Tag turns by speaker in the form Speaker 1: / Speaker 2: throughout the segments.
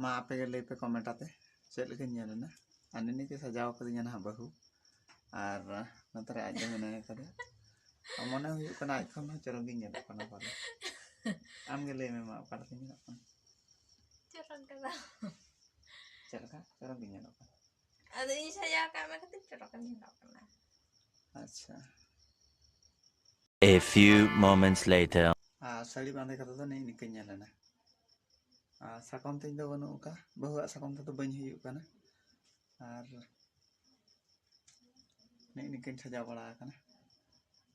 Speaker 1: ᱢᱟ ᱟᱯᱮ ᱜᱮ ᱞᱟᱹᱭ ᱯᱮ ᱠᱚᱢᱮᱱᱴ ᱟᱛᱮ ᱪᱮᱫ ᱞᱮᱠᱟᱧ ᱧᱮᱞ ᱮᱱᱟ ᱟᱨ ᱱᱤᱱᱤ ᱜᱮ ᱥᱟᱡᱟᱣ ᱠᱟᱹᱫᱤᱧᱟ ᱱᱟᱦᱟᱜ ᱵᱟᱹᱦᱩ ᱟᱨ ᱱᱚᱛᱮ ᱨᱮ ᱟᱡ ᱫᱚ ᱢᱮᱱᱟᱭ ᱠᱟᱫᱮᱭᱟ ᱢᱚᱱᱮ ᱦᱩᱭᱩᱜ ᱠᱟᱱᱟ ᱟᱡ ᱠᱷᱚᱱ ᱦᱚᱸ ᱪᱚᱨᱚᱠ ᱜᱤᱧ ᱧᱮᱞᱚᱜ ᱠᱟᱱᱟ ᱯᱟᱞᱮ ᱟᱢ ᱜᱮ ᱞᱟᱹᱭ ᱢᱮ ᱢᱟ ᱚᱠᱟ ᱞᱮᱠᱟᱧ ᱧᱮᱞᱚᱜ ᱠᱟᱱᱟ ᱪᱚᱨᱚᱠ ᱫᱚ ᱪᱮᱫ ᱞᱮᱠᱟ ᱪᱚᱨᱚᱠ ᱜᱤᱧ ᱧᱮᱞᱚᱜ ᱠᱟᱱᱟ ᱟᱫᱚ ᱤᱧ ᱥᱟᱡᱟᱣ ᱠᱟᱜ ᱢᱮ ᱠᱷᱟᱹᱛᱤᱨ ᱪᱚᱨᱚᱠ ᱮᱢ ᱧᱮᱞᱚᱜ ᱠᱟᱱᱟ ᱟᱪᱪᱷᱟ A few moments later ᱟᱨ ᱥᱟᱹᱲᱤ ᱵᱟᱸᱫᱮ ᱠᱟᱛᱮ ᱫᱚ ᱱᱤᱝ ᱱᱤᱠᱟᱹᱧ ᱧᱮᱞ ᱮᱱᱟ ᱟᱨ ᱥᱟᱠᱚᱢ ᱛᱤᱧ ᱫᱚ ᱵᱟᱹᱱᱩᱜ ᱟᱠᱟᱫ ᱵᱟᱹᱦᱩᱣᱟᱜ ᱥᱟᱠᱚᱢ ᱛᱮᱫᱚ ᱵᱟᱹᱧ ᱦᱩᱭᱩᱜ ᱠᱟᱱᱟ ᱟᱨ ᱱᱤᱝ ᱱᱤᱠᱟᱹᱧ ᱥᱟᱡᱟᱣ ᱵᱟᱲᱟ ᱟᱠᱟᱱᱟ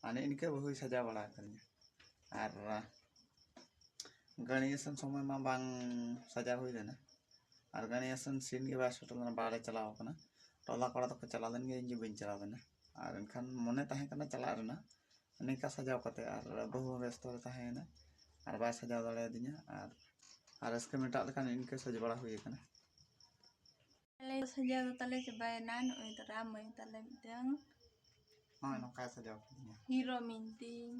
Speaker 1: ᱟᱨ ᱱᱤᱝ ᱱᱤᱠᱟᱹ ᱵᱟᱹᱦᱩᱭ ᱥᱟᱡᱟᱣ ᱵᱟᱲᱟ ᱟᱠᱟᱫᱤᱧᱟ ᱟᱨ ᱜᱟᱹᱲᱤ ᱤᱥᱤᱱ ᱥᱚᱢᱚᱭ ᱢᱟ ᱵᱟᱝ ᱥᱟᱡᱟᱣ ᱦᱩᱭ ᱞᱮᱱᱟ ᱟᱨ ᱜᱟᱹᱲᱤ ᱟᱥᱮᱱ ᱥᱤᱴ ᱜᱮ ᱵᱟᱭ ᱥᱮᱴᱮᱨ ᱞᱮᱱᱟ ᱵᱟᱦᱨᱮ ᱪᱟᱞᱟᱣ ᱠᱟᱱᱟ ᱴᱚᱞᱟ ᱠᱚᱲᱟ ᱫᱚᱠᱚ ᱪᱟᱞᱟᱣ ᱞᱮᱱ ᱜᱮᱭᱟ ᱤᱧ ᱜᱮ ᱵᱟᱹᱧ ᱪᱟᱞᱟᱣ ᱞᱮᱱᱟ ᱟᱨ ᱮᱱᱠᱷᱟᱱ ᱢᱚᱱᱮ ᱛᱟᱦᱮᱸ ᱠᱟᱱᱟ ᱪᱟᱞᱟᱜ ᱨᱮᱱᱟᱜ ᱱᱤᱝᱠᱟ ᱥᱟᱡᱟᱣ ᱠᱟᱛᱮ ᱟᱨ ᱵᱟᱹᱦᱩ ᱦᱚᱸ ᱵᱮᱥᱛᱚ ᱨᱮ ᱛᱟᱦᱮᱸᱭᱮᱱᱟ ᱟᱨ ᱵᱟᱭ ᱥᱟᱡᱟᱣ ᱫᱟᱲᱮ ᱟᱹᱫᱤᱧᱟ ᱟᱨ ᱟᱨ ᱨᱟᱹᱥᱠᱟᱹ ᱢᱮᱴᱟᱜ ᱞᱮᱠᱟ ᱤᱱᱠᱟᱹ ᱥᱟᱡᱽ ᱵᱟᱲᱟ ᱦᱩᱭ ᱠᱟᱱᱟ ᱟᱞᱮ ᱥᱟᱡᱟᱣ ᱫᱚ ᱛᱟᱞᱮ ᱪᱟᱵᱟᱭᱮᱱᱟ ᱱᱚᱜᱼᱚᱭ ᱫᱟᱨᱟ ᱢᱟᱹᱭ ᱛᱟᱞᱮ ᱢᱤᱫᱴᱟᱝ ᱦᱳᱭ ᱱᱚᱝᱠᱟᱭ ᱥᱟᱡᱟᱣ ᱠᱤᱫᱤᱧᱟ ᱦᱤᱨᱳ ᱢᱤᱱᱛᱤᱧ